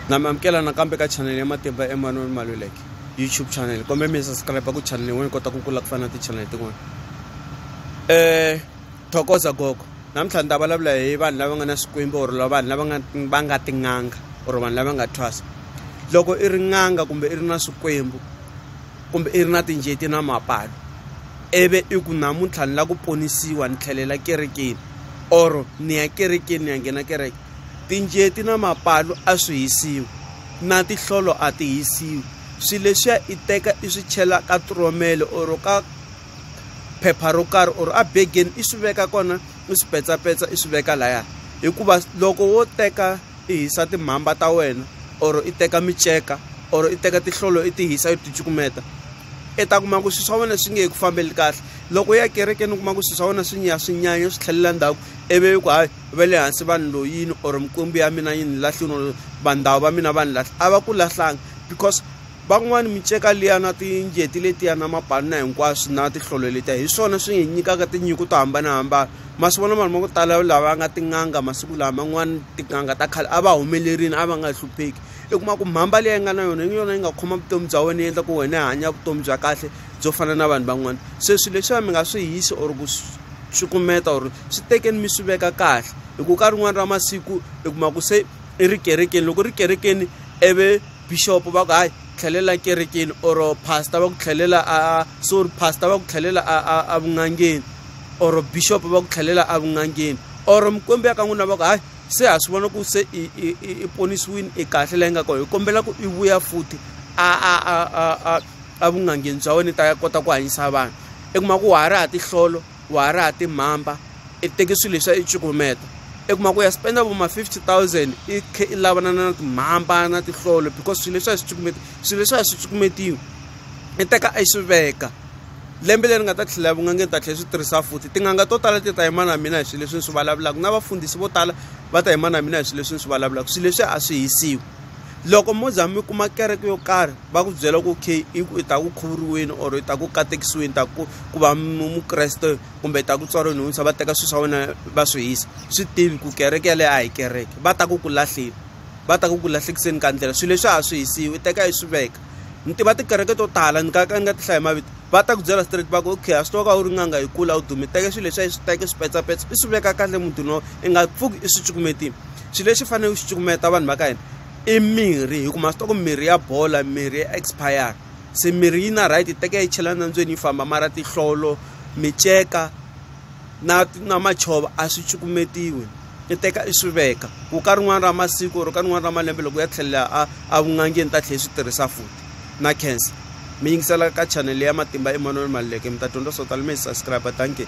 na mi amukela nakambe ka chanele ya matimba emmanuel maluleke youtube channel kombe mi subscribe ku chanele yin'wana kota ku kula ku fana na tichanele tin'wana um thokoza gogo namuntlha ni ta vulavula hi vanhu lava nga na swikwembu or la vanhu lava nga va nga tin'anga or vanhu lava nga thwasa loko i ri n'anga kumbe i ri na swikwembu kumbe i ri na tinjeti na mapalo ivi i ku namuntlha ni lava ku ponisiwa ni tlhelela kerekeni or ni ya kerekeni ni ya nghena kereke tinjeti na mapalu a swi hisiwi na tihlolo a ti hisiwi swilo leswiya i teka i swi chela ka turomele or ka phepha ro karhi or a begeni i swi veka kona i swi petsapetsa i swi veka laya hikuva loko wo teka i hisa timhamba ta wena or i teka miceka or i teka tihlolo i ti hisa i ti cukumeta i ta kuma ku swilo swa wena swi nge he ku fambeli kahle loko ya kerekeni u kuma ku swilo swa wena swi nya swi nyanya swi tlhelela ndzhaku ivi ku hayi va le hansi va ni loyini or mikwembu ya mina yi ni lahlini or vandhawu va mina va ni lahla a va ku lahlanga because van'wani miceka liya na tinjeti letiya na mapanna hinkwaswo na tihlolo letiya hi swona swi hi nyikaka tinyiko to hambanahambana ma swi vona vanhu va ku tala lava nga tin'anga masiku lawa man'wani tin'anga ta khale a va humelerini a va nga hlupheki i kuma ku mhamba leyi nga na yona yi yona yi nga khoma vutomi bya wena yi endla ku wena hanya vutomi bya kahle byo fana na vanhu van'wana se swilo leswiya mi nga swi hisi or ku swi kumeta or swi tekeni mi swi veka kahle hi ku ka rin'wani ra masiku i kuma ku se i ri kerekeni loko ri kerekeni ivi bixopo va ku hayi tlhelela kerekeni or pastor va ku tlhelela a sorry pastor va ku tlhelela a a a vun'angeni or bixopo va ku tlhelela a vun'angeni or mikwembu ya ka n'wina va ku hayi se ha swi vona ku se i i i ponisiwini i kahle la yi nga kona hi kombela ku i vuya futhi a a a a a a vun'angeni bya wena i ta ya kota ku hanyisa vanhu i kuma ku wa ha ri ha tihlolo wa ha ri ha timhamba i teki swilo leswa i cukumeta i kuma ku ya spenda vo ma fifty thousand i kha i lavana na timhamba na tihlolo because swilo leswi a swi cukumeta swilo leswi a swi cukumetiwi i teka i swi veka lembe leri nga ta tlhela vun'angeni ta tlhela swi tirhisa futhi tin'anga to tala ti ta yima na mina hi swilo leswi ni swi vulavulaka na vafundhisi vo tala va ta yima na mina hi swilo leswi ni swi vulavulaka swilo leswi a swi hisiwi loko mo za mi kuma kereke yo karhi va ku byela ku okay i ku i ta ku khuvuriweni or i ta ku katekisiweni ta ku ku va mukreste kumbe i ta ku tswariweni hunsa va teka swilo swa wena va swi hisa swi tivi ku kereke yaleyo a hi kereke va ta ku ku lahleni va ta ku ku lahlekiseni ka ndlela swilo leswi a swi hisiwi i teka i swi veka ni tiva tikereke to tala ni ka ka ni nga ti hlaya mavito va ta ku byela straight va ku okay a swi tiva ka u ri n'anga yi kula u dume teke swilo leswi a yi swi teke swi petsapetsa i swi veka kahle mutini wa i nga pfuki i swi cukumetile xilo lexi faneleke u xi cukumeta vanhu va ka hina i mirhi hi ku ma swi tiva ku mirhi ya bola mirhi ya expire se mirhi yi na right yi teka yi chela nandzwini yi famba mara tinhlolo miceka na na machova a swi cukumetiwi i teka i swi veka ku ka rin'wana ra masiku or ka rin'wana ra malembe loko ya tlhelela a a vun'angeni ta tlhela swi tirhisa futhi na cancer mi yingisela ka chanele ya matimba eman'wini maluleke mi ta dyondza swo tala mi hi subscribe dankie